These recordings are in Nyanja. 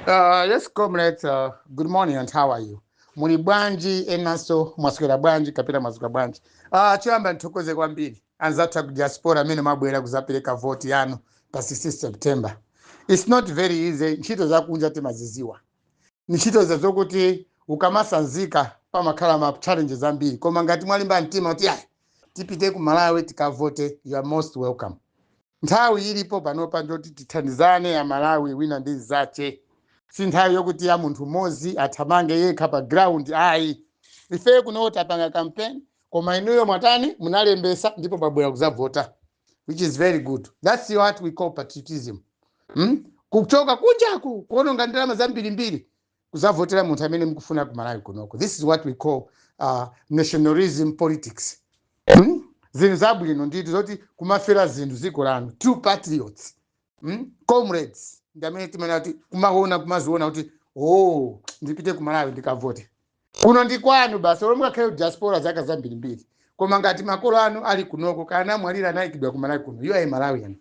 Uh, yes, comrades, uh, good morning and how are you? Muli bwanji enanso mwaswera bwanji kapena mwaswera bwanji? Uh, choyamba ndithokoze kwambiri anzathu aku diaspora amene mwabwera kuzapereka voti yanu pa 16 September. It's not very easy, ntchito zakunja timaziziwa. Ndi ntchito zokuti ukamatsanzika pamakhala ma challenges ambiri koma ngati mwalimba mtima kuti ayi tipite ku Malawi tikavote you are most welcome. Nthawi ilipo panopa ndiyoti tithandizane Amalawi wina ndi mzache. Si nthawi yokuti ya munthu mmodzi athamange yekha pa ground ayi. Ifeyo kuno tapanga campaign koma inuyo mwatani munalembetsa ndipo mwabwera kudzavota. which is very good that's what we call patriotism hmm? kuchoka kunjaku kuononga ndalama zambirimbiri kuzavotera munthu amene mukufuna ku malawi kunoko this is what we call uh, nationalism politics hmm? zinthu zabwino nditi zoti kumafera zinthu ziko lanu true patriots hmm? comrades ndi amene timanena kuti kumaziona kuti o oh, ndipite ku malawi ndikavote kuno ndi kwanu basi olo mungakhale ku diaspora zaka zambirimbiri koma ngati makolo anu ali kunoko kaya anamwalira anayikidwa kumalawi kuno you are a malawian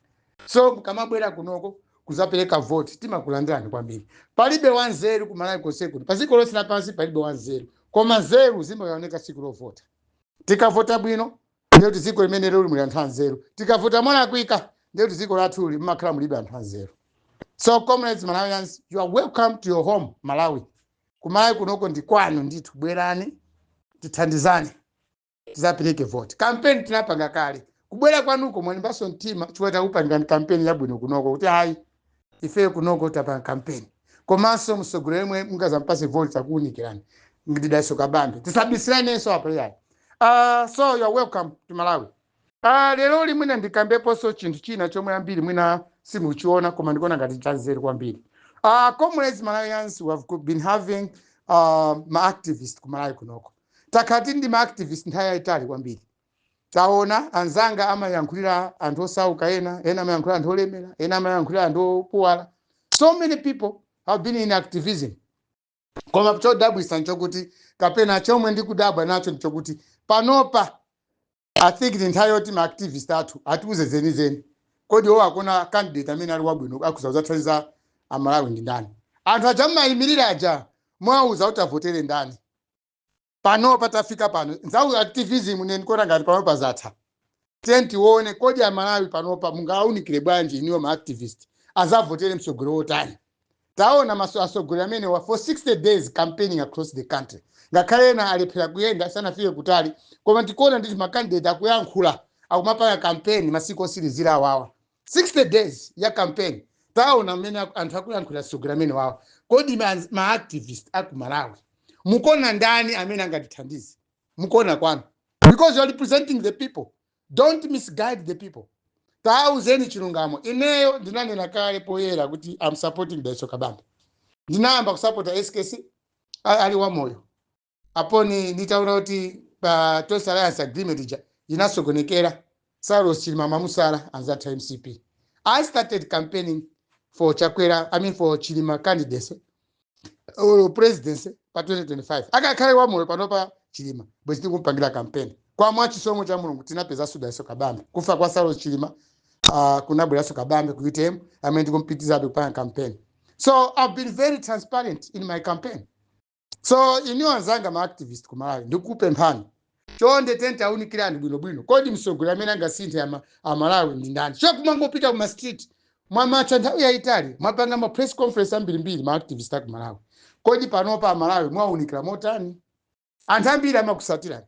so mukamabwera kunoko kuzapereka voti timakulandirani kwambiri palibe wanzeru kumalawi konse kuno padziko lonse lapansi palibe wanzeru koma nzeru zimaoneka tsiku lovota tikavota bwino ndiye kuti dziko limeneli muli anthu anzeru tikavota molakwika ndiye kuti dziko lathuli limakhala mulibe anthu anzeru so comrades malawians you are welcome to your home malawi ku Malawi kunoko ndi kwanu ndithu bwerani tithandizane tizapereke voti kampeni tinapanga kale kubwera kwanuko mwalimbanso mtima chifukwa takupangirani kampeni yabwino kunoko kuti hayi ifeyo kunoko tapanga kampeni komanso mtsogoleri yemwe mungazampase voti takuwunikirani ndi Dalitso Kabambe tisabisiranenso apo yayi uh, so you are welcome to malawi Ah, leroli mwina ndikambeponso chinthu china chomwe ambiri mwina simuchiona koma ndikuona ngati chanzeru kwambiri. Ah, comrades Malawians we have go- been having uh, ma activist ku Malawi kunoko. Takhala tili ndi ma activist nthawi yayitali kwambiri. Taona anzanga amayankhulira anthu osauka ena, ena amayankhulira anthu olemera, ena amayankhulira anthu opuwala. So many people have been in activism. koma chodabwisa nchokuti kapena chomwe ndikudabwa nacho nchokuti panopa i think ndi nthawi yoti ma activist athu atiuze zenizeni kodi iwo akuona candidate amene ali wabwino akuzathandiza amalawi ndi ndani anthu aja mumayimirira aja mwawauza kuti avotere ndani panopa tafika pano nthawi activism ine ndikuona ngati panopa zatha tiye tione kodi amalawi panopa mungawaunikire bwanji inuyo ma activist azavotere mtsogoleri wotani taona atsogoleri amenewa for 60 days campaigning across the country ngakhale ena alephera kuyenda sanafike kutali koma tikuona ndithu makandidate akuyankhula akumapanga kampeni masiku otsirizira awawa 60 days ya campaign taona mmene aku- anthu akuyankhulira atsogoleri amenewawa kodi ma, ma activist a ku malawi mukuona ndani amene angatithandize mukuona kwanu because you are representing the people don't misguide the people tauzeni chilungamo ineyo ndinanena kale poyera kuti i'm supporting dalitso kabambe ndinayamba kusapota skc a- ali wamoyo apo nditaona kuti pa tonse alliance agreement ija inasokonekera saulos chilima mamusala anzake a mcp i started campaigning for chakwera i mean for chilima candidacy or presidency pa 2025 akanakhala wamoyo panopa chilima bwezi tikumpangira kampeni koma mwa chisomo cha mulungu tinapeza dalitso kabambe kufa kwa saulos chilima uh, kunabweretsa kabambe ku utm amene tikumpitizabe kupanga kampeni so i've been very transparent in my campaign so inu anzanga ma activist ku malawi ndikupemphani chonde tatiunikirani bwinobwino kodi mtsogoleri amene angasinthe ama- amalawi ndi ndani si kumangopita kuma street mwamatha nthawi yayitali mwapanga ma press conference ambirimbiri ma activist aku malawi kodi panopa amalawi mwaunikira motani anthu ambiri amakusatirani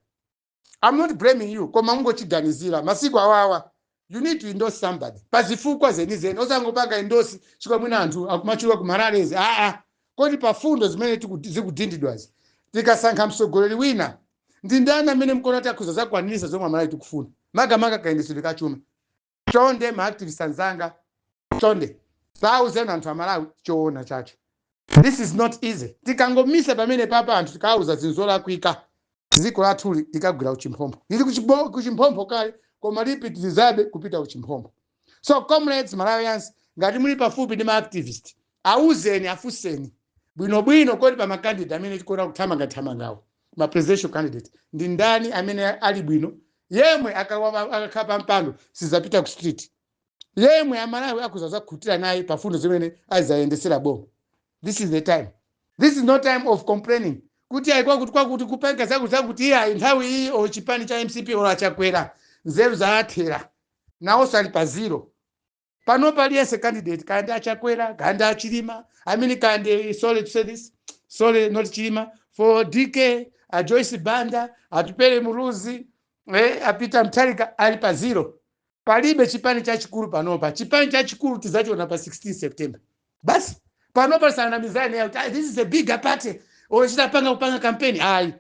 i'm not blaming you koma ndingokuganizirani masiku awawa you need to endorse somebody pa zifukwa zenizeni osangopanga endorse chifukwa mwina anthu akumachuluka ku ma rallies aa kodi pa fundo zimene tiku- zikunenedwazi tikasankha mtsogoleri wina ndi ndani amene mkuona kuti akhoza zakwanirisa zomwe amalawi tikufuna makamaka kayendetsedwe ka chuma chonde ma activist anzanga chonde tauzeni anthu amalawi choona chake this is not easy tikangomisa pamenepapa anthu tikauza zinthu zolakwika dziko lathuli likagwera kuchiphompho lili kuchibo- kuchiphompho kale koma lipitirizabe kupita kuchiphompho so comrades malawians ngati muli pafupi ndi ma activist Awuzeni, afunseni bwino bwino kodi pa ma candidate amene tikuona akuthamanga thamangawa ma presidential candidate ndi ndani amene ali bwino yemwe akalowa akakhala pa mpando sizapita ku street yemwe amalawi akhoza kuzakhutira naye pa fundo zimene azayendesera boma this is the time this is no time of complaining kuti ayi kwakuti kwakuti kupanga zakuti zakuti iye ayi nthawi iyi o chipani cha mcp or achakwera nzeru zaathera nawonso ali pa zero panopa aliyense candidate kaya ndi achakwera kaya ndi achilima i mean kaya ndi sorry to say this sorry not chilima for dk, a joyce banda atupele muluzi eh, a peter mutharika ali pa zero palibe chipani chachikulu panopa chipani chachikulu tizachiona pa 16 september basi panopa tisanamizane kuti "Ah, this is a bigger party ochita panga kupanga kampeni ayi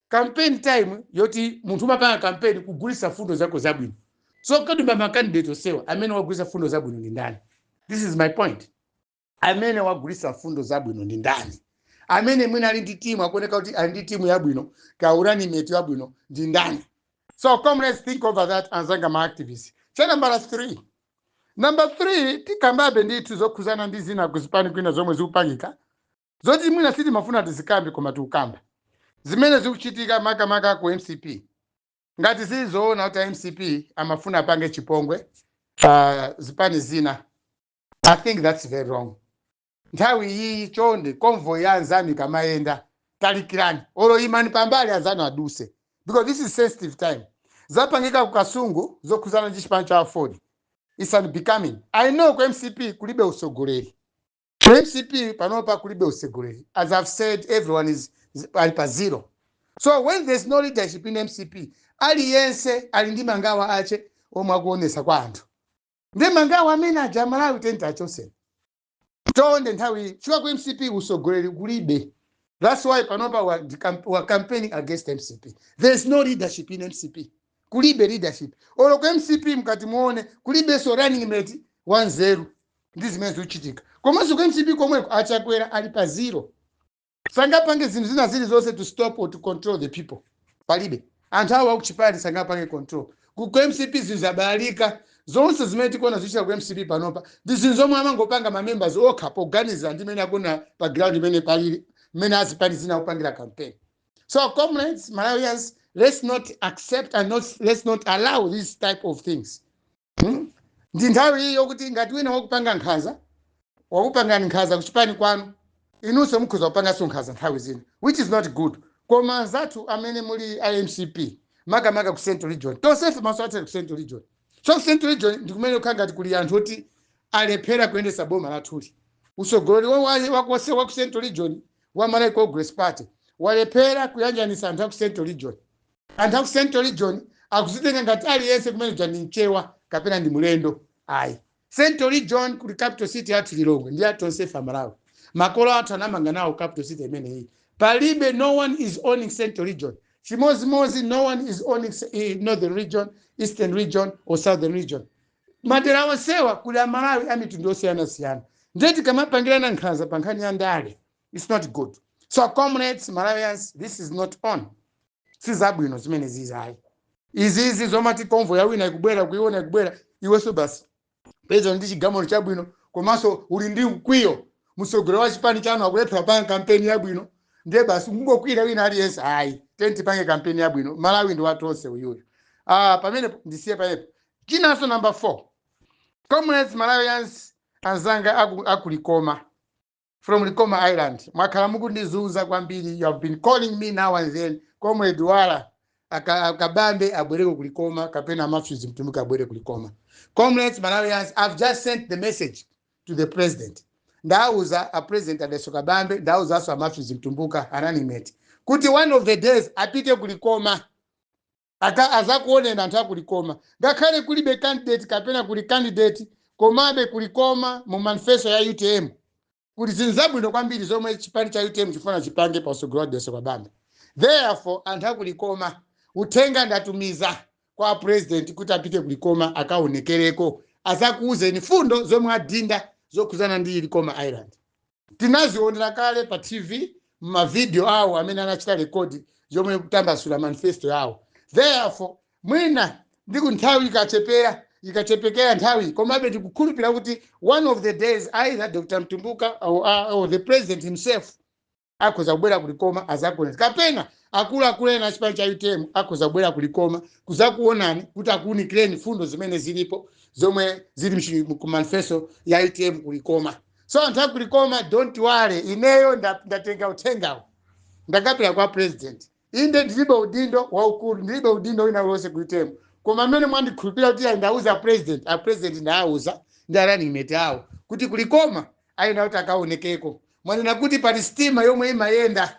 campaign time yoti munthu umapanga campaign kugulisa fundo zako zabwino so kodi ma candidate osewa amene wagulisa fundo zabwino ndi ndani this is my point amene wagulisa fundo zabwino ndi ndani amene mwina ali ndi timu akuoneka kuti ali ndi timu yabwino kapena running mate yabwino ndi ndani so comrades think over that anzanga ma activists cha nambala 3 namba 3 tikambabe ndithu zokhuzana ndi zina kuzipani kwina zomwe zikupangika zoti mwina sitimafuna tizikambe koma tikukamba zimene zikuchitika makamaka ku mcp ngati zili zoona kuti a mcp amafuna apange chipongwe pa zipani zina i think that's very wrong nthawi iyiyi chonde convoy ya anzanu ikamayenda talikirani olo imani pambali anzanu aduse because this is sensitive time zapangika ku kasungu zokhuzana ndi chipani cha aford it's unbecoming i know ku mcp kulibe utsogoleri Ku mcp panopa kulibe utsogoleri as i've said everyone is is- ali pa zero so when there's no leadership in mcp aliyense ali ndi mangawa ache omwe akuonesa kwa anthu ndi mangawa amene aja amalawi tonse achoseni tonde nthawi iyi chifukwa ku mcp utsogoleri kulibe that's why panopa we are camp- we are campaigning against mcp there's no leadership in mcp kulibe leadership olo ku mcp mkati muone kulibenso running mate wanzeru ndi zimene zikuchitika komanso ku mcp komweko achakwera ali pa zero sangapange zinthu zina zilizonse to stop or to control the people palibe anthu awo akuchipani sangapange control ku ku mcp zinthu zabalalika zonse zimene tikuona zikuchitika ku mcp panopa ndi zinthu zomwe amangopanga ma members okha poganizira ndi mmene akuona pa ground mmene palili mmene azipani zina akupangira campaign So, comrades, Malawians, let's not accept and not, let's not allow these type of things. Hmm? ndi nthawi iyi yokuti ngati wina wakupanga nkhanza wakupangani nkhanza kuchipani kwanu inunso mukhoza kupanganso nkhanza nthawi zina which is not good koma anzathu amene muli a mcp makamaka ku central region tonsefe maso athu ali ku central region so ku central region ndikumene kukhala ngati kuli anthu oti alephera kuyendetsa boma lathuli usogoleri wonse wa ku central region wa Malawi Congress Party walephera kuyanjanisa anthu aku Central Region. Anthu aku Central Region akuzitenga ngati aliyense kumene kuja ndi mchewa kapena ndi mulendo. Ayi. Central Region kuli capital city yathu Lilongwe ndi ya tonsefe a Malawi. Makolo athu anamanga nawo capital city imeneyi. Palibe no one is owning Central Region. Chimozimozi no one is owning eh, Northern Region, Eastern Region or Southern Region. madera onsewa kuli amalawi a mitundu yosiyanasiyana ndiye tikamapangirana nkhanza pa nkhani ya ndale its not good so comrades malawians this is not on sizabwino zimene zizayi izizi zomati convoy ya wina ikubwera kuiona ikubwera iwenso basi poti ndi chigamulo chabwino komanso uli ndi mkwiyo mtsogoleri wa chipani chanu akulephera kupanga kampeni yabwino ndiye basi kungokwira wina aliyense ayi tiyeni tipange kampeni yabwino malawi ndi wa tonse uyuyu ah, pamenepo ndisiye payepo Chinanso number 4. Comrades Malawians anzanga aku, aku Likoma from Likoma Island. Mwakhala mukundizuza kwambiri. You have been calling me now and then. Comrade Wala aka- a Kabambe abwereko ku Likoma kapena a Matthews Mtumbuka abwere ku Likoma. Comrades Malawians I've just sent the message to the president. Ndauza a president a Dalitso Kabambe ndauzanso a Matthews Mtumbuka a running mate kuti one of the days apite ku Likoma aka azakuoneni anthu akulikoma ngakhale kulibe candidate kapena kuli candidate komabe kulikoma mu manifesto ya utm kuli zinthu zabwino kwambiri zomwe chipani cha utm chifuna chipange pa utsogoleri wa Dalitso Kabambe therefore anthu akulikoma uthenga ndatumiza kwa president kuti apite kulikoma akaonekereko azakuuzeni fundo zomwe ali nazo zokhudzana ndi likoma island Tinazionera kale pa TV m'mavidiyo awo amene anachita rekodi pomwe akutambasula manifesto yawo. Therefore, mwina ndi ku nthawi ikachepera ikuchepekera nthawi komabe tikukhulupirira kuti one of the days either Dr. Mtumbuka or, uh, or the president himself akhoza kubwera kulikoma azakuoneni kapena akuluakulu ena achipani cha utm akhoza kubwera kulikoma kuzakuonani kuti akuunikireni fundo zimene zilipo zomwe zili mchi- mu manifesto ya utm kulikoma so anthu aku likoma don't worry ineyo nda- ndatenga uthengawo ndakapereka kwa president inde ndilibe udindo waukulu ndilibe udindo wina uliwonse ku UTM koma mmene mwandikhulupirira kuti ayi ndauza president a president ndawauza ndi a running mate awo kuti kulikoma ayenda kuti akaonekeko mwanena kuti pali sitima yomwe imayenda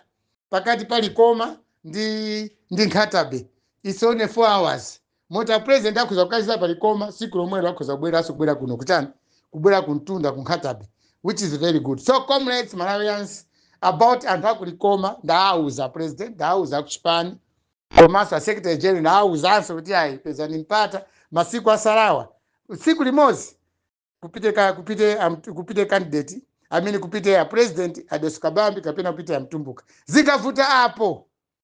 pakati pa likoma ndi ndi Nkhata Bay it's only four hours moti a president akhoza kukacheza pa likoma tsiku lomwelo akhoza kubweranso kubwera kuno kuchani kubwera kumtunda ku Nkhata Bay which is very good so comrades malawians about anthu akulikoma ndaawuza president ndaawuza akuchipani komanso a secretary general ndaawuzanso kuti ayi pezani mpata masiku atsalawa tsiku limodzi kupite ka kupite am- kupite candidate amene kupite a president a Dalitso Kabambe kapena kupite a Mtumbuka zikavuta apo